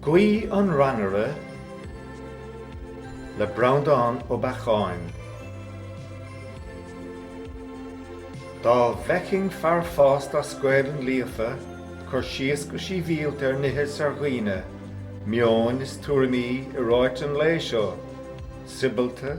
Guí an Rannaire le Breandán Ó Beacháin, Dá bhfeicfinn fear fásta as Gaelainn líofa ag cur síos go síbhialta ar nithe is ar dhaoine, meoin is tuairimí i ráite an lae seo, soibealta,